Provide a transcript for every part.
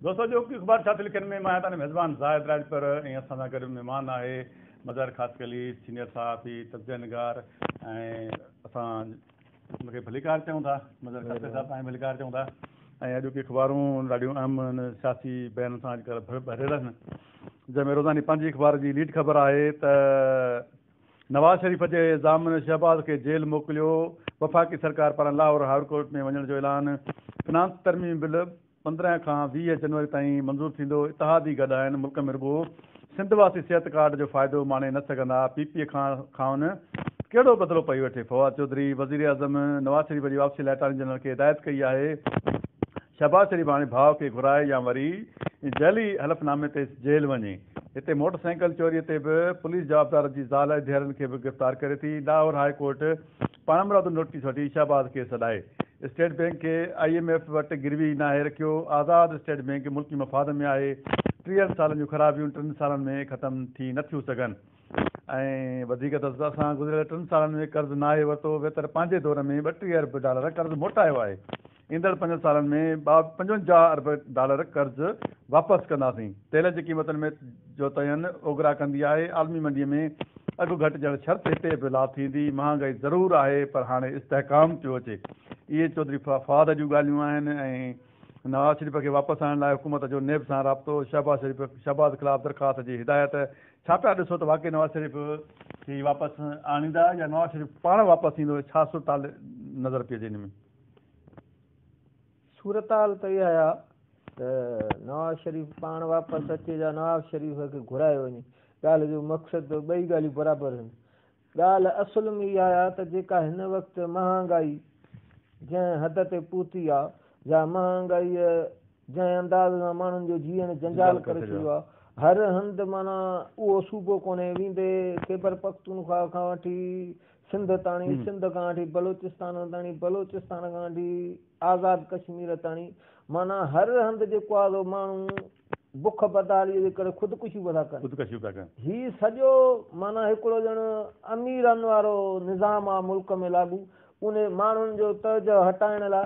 دوستو اڄ اوکي اخبار ڇا ٿي لکين ۾ مان آهيان تهنجو ميزبان زاهد راڄپر ۽ اسان سان گڏ مهمان آهي مظاهر خاصخيلي سينيئر صحافي تجزيه نگار ۽ اسان ان کي ڀليڪار چئون ٿا مظاهر خاصخيلي صاحب پاڻ ڀليڪار چئون ٿا ۽ اڄ اوکي اخبارون ڏاڍيون اهم ان سياسي بيانن سان اڄ ڪلهه ڀريل آهن جنهن ۾ روزاني پنهنجي اخبار جي ليڊ خبر آهي ته نواز شريف جي ضامن شهباز کي جيل موڪليو، وفاقي سرڪار پاران لاهور هاء ڪورٽ ۾ وڃڻ جو اعلان، فنانس ترميم بل پندرهن کان ويهه جنوري تائين منظور ٿيندو، اتحادي گڏ آهن، ملڪ ۾ رڳو سنڌ واسي صحت ڪارڊ جو فائدو ماڻي نه سگهندا، پي پي کان کانئن ڪهڙو بدلو پئي وٺي، فواد چوڌري وزيراعظم نواز شريف جي واپسي لاء اٽارني جنرل کي هدايت ڪئي آهي. شهباز شريف هاڻي ڀاء کي گهرائي يا وري جعلي حلف نامي تي جيل وڃي. هتي موٽر سائيڪل چوري تي به پوليس جوابدار جي زال ۽ ڌيئرن کي به گرفتار ڪري ٿي. لاهور هاء ڪورٽ پاڻمرادو نوٽيس وٺي شهباز کي سڏائي اسٽيٽ بئنڪ کي آء ايم ايف وٽ گروي ناهي رکيو. آزاد اسٽيٽ بئنڪ ملڪي مفاد ۾ آهي. ٽيهن سالن جون خرابيون ٽن سالن ۾ ختم ٿي نه ٿيون سگهن ۽ وڌيڪ ته اسان گذريل ٽن سالن ۾ قرض ناهي ورتو ويتر پنهنجي دور ۾ ٻٽيهه ارب ڊالر قرض موٽايو آهي. ايندڙ پنجن سالن ۾ ٻاهه پنجونجاهه ارب ڊالر قرض واپس ڪنداسين، تيل جي قيمتن ۾ جو تعين اوگرا ڪندي آهي، عالمي منڊي ۾ اگهه گهٽجڻ شرط هتي به لا ٿيندي، مهانگائي ضرور آهي پر هاڻي استحڪام پيو اچي، اهي چوڌري فواد جون ڳالهيون آهن ۽ نواز شريف کي واپس آڻڻ لاء حڪومت جو نيب سان رابطو، شهباز شريف شهباز خلاف درخواست جي هدايت، ڇا پيا ڏسو ته واقعي نواز شريف کي واپس آڻيندا يا نواز شريف پاڻ واپس ايندو ڇا صورتحال نظر پئي اچي ان ۾. صورتحال ته اها آهي ته نواز شريف پاڻ واپس اچي يا نواز شريف کي گهرايو وڃي، ڳالهه جو مقصد ته ٻئي ڳالهيون برابر آهن. ڳالهه اصل ۾ اها آهي ته جيڪا هن وقت مهانگائي جنهن حد تي پهتي آهي يا مهانگائيء جنهن انداز سان ماڻهن جو جيئڻ جنجال ڪري ڇڏيو آهي، هر هنڌ معنيٰ اهو صوبو ڪونهي، ويندي خيبرپختونخواهه کان وٺي سنڌ تاڻي، سنڌ کان وٺي بلوچستان تاڻي، بلوچستان کان وٺي آزاد ڪشمير تاڻي، معنيٰ هر هنڌ جيڪو آهي سو ماڻهو بک بدحاليء جي ڪري خودڪشيون پيا ٿا ڪن. هي سڄو معنيٰ هڪڙو ڄڻ اميرن وارو نظام آهي ملڪ ۾ لاڳو، انهي ماڻهن جو توجهه هٽائڻ لاء،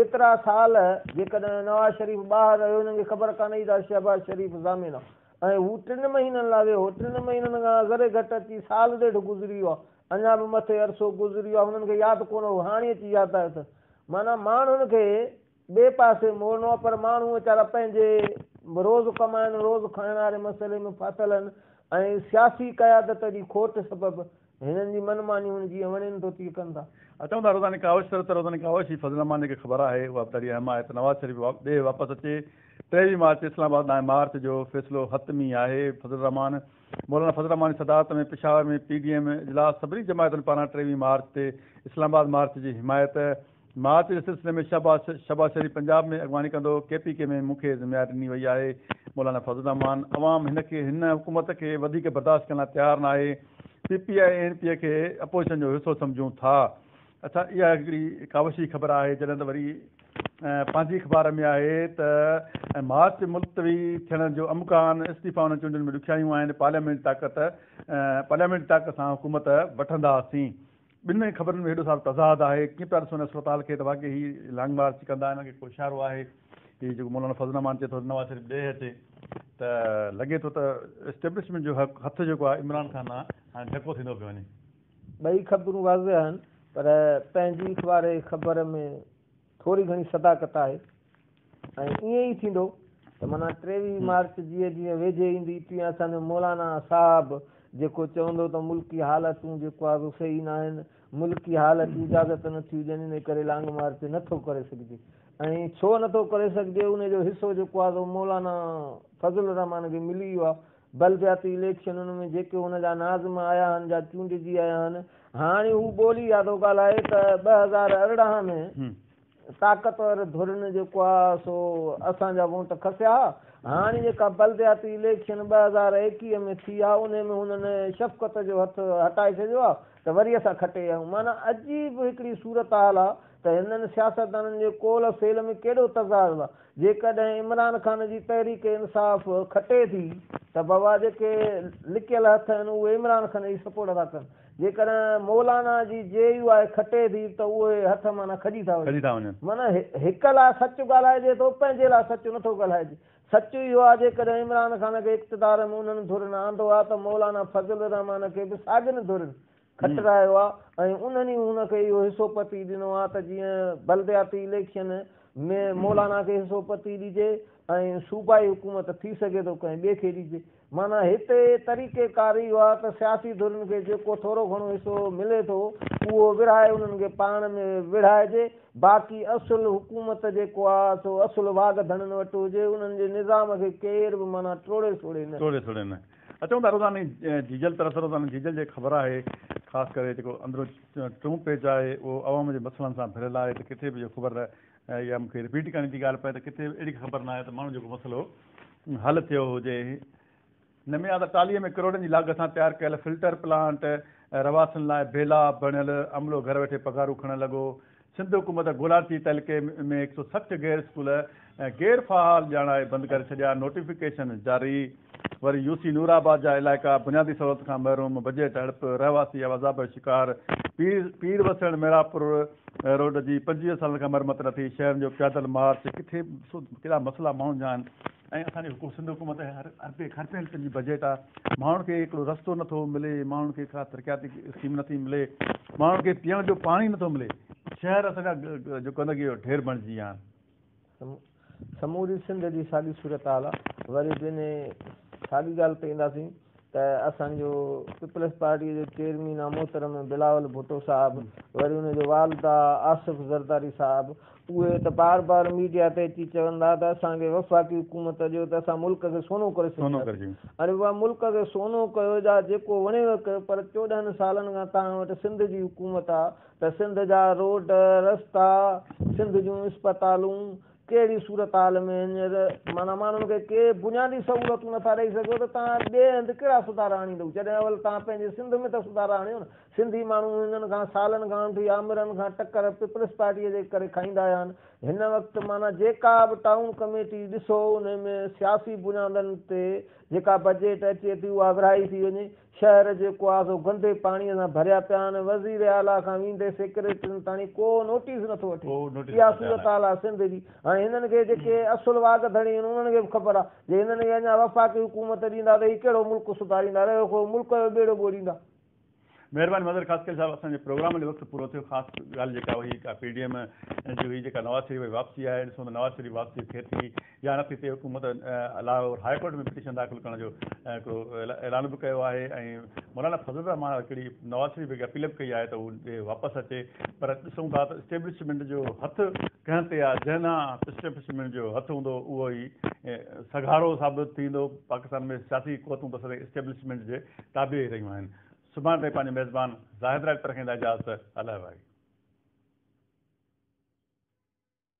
ايترا سال جيڪڏهن نواز شريف ٻاهر رهيو هنن کي خبر ڪانه هئي ته شهباز شريف ضامن آ ۽ هو ٽن مهينن لا ويو هو ٽن مهينن کان ذري گهٽ اچي سال ڏيڍ گذري ويو آ اڃا به مٿي عرصو گذري ويو آ هنن کي ياد ڪونه هو هاڻي اچي ياد آيو اٿس معنيٰ ماڻهن کي ٻئي پاسي موڙڻو آ پر ماڻهو ويچارا پنهنجي روز ڪمائڻ روز کائڻ واري مسئلي ۾ ڦاٿل هن ۽ سياسي قيادت جي کوٽ سبب هنن جي من ماني هن جيئن وڻين ٿو تيئن ڪن ٿا. اچون ٿا روزاني ڪاوش سر ته روزاني ڪاوش هي فضل الرحمان جيڪي خبر آهي اها به ڏاڍي اهم آهي ته نواز شريف ڏيهه واپس اچي ٽيويهه مارچ اسلام آباد ڏانهن مارچ جو فيصلو حتمي آهي فضل الرحمان مولانا فضل الرحمان جي صدارت ۾ پشاور ۾ پي ڊي ايم اجلاس سڀني جماعتن پاران ٽيويهه مارچ تي اسلام آباد مارچ جي حمايت مارچ جي سلسلي ۾ شهباز شهباز شريف پنجاب ۾ اڳواڻي ڪندو، ڪي پي ڪي ۾ مون کي ذميواري ڏني وئي آهي، مولانا فضل الرحمان، عوام هن کي هن حڪومت کي وڌيڪ برداشت ڪرڻ لاء تيار ناهي، P P I N P کي اپوزيشن جو حصو سمجهون ٿا، اڇا اها هڪڙي ڪاوشي خبر آهي جڏهن ته وري پنهنجي اخبار ۾ آهي ته مارچ ملتوي ٿيڻ جو امڪان، استعيفا انهن چونڊن ۾ ڏکيائيون آهن، پارليامينٽ جي طاقت پارليامينٽ جي طاقت سان حڪومت وٺنداسين. ٻنهي خبرن ۾ هيڏو سارو تضاد آهي، ڪيئن پيا ڏسون هن صورتحال کي ته واقعي هي لانگ مارچ ڪندا، هنن کي ڪو اشارو آهي. هي جيڪو مولانا فضل الرحمان چئي ٿو نواز شريف ڏيهه اچي ته لڳي ٿو ته اسٽيبلشمينٽ جو هٿ جيڪو آهي عمران خان ڏانهن هاڻي ڍڪو ٿيندو پيو وڃي. ٻئي خبرون واضح آهن پر پنهنجي اخبار خبر ۾ ٿوري گهڻي صداقت آهي ۽ ائين ئي ٿيندو ته معنيٰ ٽيويهه مارچ جيئن جيئن ويجهي ايندي تيئن اسان جو مولانا صاحب جيڪو چوندو ته ملڪي حالتون جيڪو آهي سو صحيح ناهن، ملڪي حالت اجازت نه ٿيون ڏين ان ڪري لانگ مارچ نه ٿو ڪري سگهجي ۽ ڇو نه ٿو ڪري سگهجي ان جو حصو جيڪو آهي سو مولانا فضل الرحمان کي ملي ويو آهي. بلدياتي اليڪشنن ۾ جيڪي هن جا ناظم آيا آهن جا چونڊجي آيا آهن هاڻي هو ٻولي يا ٿو ڳالهائي ته ٻه هزار ارڙهن ۾ طاقتور ڌرين جيڪو آ سو اسان جا ووٽ کسيا ها هاڻي جيڪا بلدياتي اليڪشن ٻه هزار ايڪيهه ۾ ٿي آ انهي ۾ هنن شفقت جو هٿ هٽائي ڇڏيو آ ته وري اسان کٽي آيون معنيٰ عجيب هڪڙي صورتحال آ ته هنن سياستدانن جي قول و فعل ۾ ڪيڏو تضاد آ جيڪڏهن عمران خان جي تحريڪ انصاف کٽي ٿي ته بابا جيڪي لڪيل هٿ آهن اهي عمران خان جي سپورٽ ٿا ڪن، جيڪڏهن مولانا جي جي يو آء کٽي ٿي ته اهي هٿ معنيٰ کڄي ٿا وڃن. معنيٰ هڪ لاء سچ ڳالهائجي ٿو پنهنجي لاء سچ نه ٿو ڳالهائجي. سچ اهو آهي جيڪڏهن عمران خان کي اقتدار ۾ انهن ڌرين آندو ها ته مولانا فضل الرحمان کي به ساڳين ڌرين کٽرايو آ ۽ انهن ئي هن کي اهو حصو پتي ڏنو آ ته جيئن بلدياتي اليڪشن ۾ مولانا کي حصو پتي ڏجي ۽ صوبائي حڪومت ٿي سگهي ٿو ڪنهن ٻئي کي ڏجي معنيٰ هتي طريقي ڪار اهو آ ته سياسي ڌرين کي جيڪو ٿورو گهڻو حصو ملي ٿو اهو ورهائي انهن کي پاڻ ۾ وڙهائجي باقي اصل حڪومت جيڪو آ سو اصل واڳ ڌڻن وٽ هجي انهن جي نظام کي ڪير به معنيٰ ٽوڙي سوڙي نه. اچون ٿا روزاني جيجل طرف روزاني جيجل جي خبر آهي خاص ڪري جيڪو اندرون ٽيون پيج آهي اهو عوام جي مسئلن سان ڀريل آهي ته ڪٿي به اهو خبر نه اها مون کي رپيٽ ڪرڻي ٿي ڳالهه پئي ته ڪٿي به اهڙي خبر نه آهي ته ماڻهو جيڪو مسئلو حل ٿيو هجي نميان ته ٽالهي ۾ ڪروڙن جي لاڳت سان تيار ڪيل فلٽر پلانٽ رهواسين لاء بيلا بڻيل عملو گهر ويٺي پگهارون کڻڻ لڳو سنڌ حڪومت گولاچي تعلقي ۾ هڪ سؤ سٺ غير اسڪول غير فعال ڄاڻائي بند ڪري ڇڏيا، نوٽيفڪيشن جاري وري يو سي نور آباد جا علائقا بنيادي سهولت کان محروم، بجيٽ هڙپ، رهواسي عذاب جو شڪار، پير پير وسڻ محرابپور روڊ جي پنجويهه سالن کان مرمت نه ٿي، شهرن جو پيادل مارچ ڪٿي ڪهڙا مسئلا ماڻهن جا آهن. ۽ اسان جي حڪومت سنڌ حڪومت هر اربين کربين روپين جي بجيٽ آ ماڻهن کي هڪڙو رستو نٿو ملي ماڻهن کي ڪا ترقياتي اسڪيم نٿي ملي ماڻهن کي پيئڻ جو پاڻي نٿو ملي شهر اسان جا جو گندگي جو ڍير بڻجي ويا آهن. سموري سنڌ جي ساڳي صورتحال آ وري بنهه ساڳي ڳالهه تي اينداسين ته اسان جو پيپلز پارٽي جو چيئرمين آ محترم بلاول ڀٽو صاحب وري ان جو والد آ آصف زرداري صاحب اهي ته بار بار ميڊيا تي اچي چوندا ته اسان کي وفاقي حڪومت ڏيو ته اسان ملڪ کي سونو ڪري ڇڏينداسين اري واھ ملڪ کي سونو ڪيو جا جيڪو وڻيو ڪيو پر چوڏهن سالن کان توهان وٽ سنڌ جي حڪومت آ ته سنڌ جا روڊ رستا سنڌ جون اسپتالون ڪهڙي صورتحال ۾ هينئر معنيٰ ماڻهن کي ڪي بنيادي سهولتون نٿا ڏئي سگهو ته توهان ٻئي هنڌ ڪهڙا سڌارا آڻيندؤ؟ جڏهن اول توهان پنهنجي سنڌ ۾ ته سڌارا آڻيو نه. سنڌي ماڻهو هنن کان سالن کان وٺي آمرن کان ٽڪر پيپلز پارٽيء جي ڪري کائيندا آيا آهن. هن وقت معنيٰ جيڪا به ٽائون ڪميٽي ڏسو انهي ۾ سياسي بنيادن تي جيڪا بجيٽ اچي ٿي اها ورهائي ٿي وڃي. شهر جي ڪوازو گندي پاڻي سان ڀريا پيا آهن، وزير اعليٰ کان ويندي سيڪريٽرين تاڻي ڪو نوٽيس نٿو وٺي، اها صورتحال آهي سنڌ جي، هاڻي هنن کي جيڪي اصل واڳ ڌڻي آهن انهن کي به خبر آهي، جي هنن کي اڃا وفاقي حڪومت ڏيندا ته هي ڪهڙو ملڪ سڌاريندا، رهيو خو ملڪ جو ٻيڙو ٻوڙيندا. مهرباني مظهر خاصخيل صاحب اسان جي پروگرام لي وقت پورو ٿيو خاص ڳالهه جيڪا هئي اها پي ڊي ايم جي هئي جيڪا نواز شريف جي واپسي آهي ڏسون ته نواز شريف واپسي ٿئي ٿي يا نٿي ٿئي حڪومت لاهور هاء ڪورٽ ۾ پٽيشن داخل ڪرڻ جو هڪڙو اعلان به ڪيو آهي ۽ مولانا فضل الرحمان هڪڙي نواز شريف کي اپيل به ڪئي آهي ته هو ڏي واپس اچي پر ڏسون ٿا ته اسٽيبلشمينٽ جو هٿ ڪنهن تي آهي جنهن ڏانهن اسٽيبلشمينٽ جو هٿ هوندو اهو ئي سگهارو ثابت ٿيندو پاڪستان ۾ سياسي قوتون ته سدائين اسٽيبلشمينٽ جي تابع ئي رهيون آهن سڀاڻ تائين پنهنجي ميزبان زاهد راڄپر کان ادا اجازت الله وائي.